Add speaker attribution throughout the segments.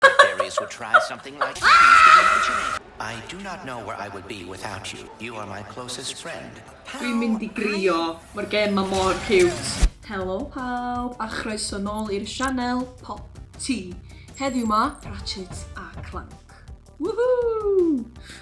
Speaker 1: The fairies would try something like to change the dimension. I do not know where I would be without you. You are my closest friend. Pawb, Dwi'n mynd i
Speaker 2: grio. Mae'r gem ma mor ciwt. Helo pawb a chroeso nôl i'r sianel Pop Tea. Heddiw ma Ratchet a Clank. Woohoo!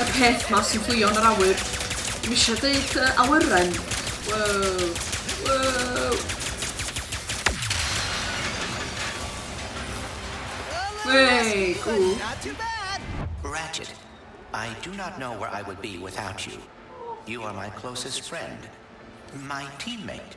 Speaker 2: Y peth 'ma sy'n fflio yn yr awyr. Dwi eisiau deud yy awyren. Wow. Wow. Wey, cool.
Speaker 1: Ratchet, I do not know where I would be without you. You are my closest friend. My teammate.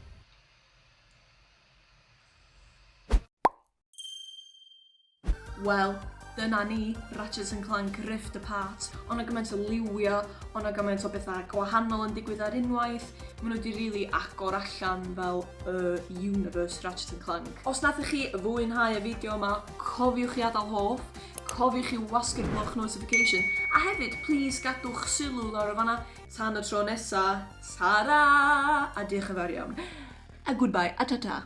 Speaker 2: Wel, dyna ni, Ratchet and Clank Rift Apart. Ond o gymaint o liwio, ond o gymaint o bethau gwahanol yn digwydd ar unwaith. Maen nhw wedi rili really agor allan fel y uh, universe Ratchet and Clank. Os nathoch chi fwynhau y fideo yma, cofiwch i adael hoff, cofiwch i wasgu'r gloch notification, a hefyd, please gadwch sylw lawr o fanna Tan y tro nesa, tara! A diolch yn fawr iawn. A goodbye a tata!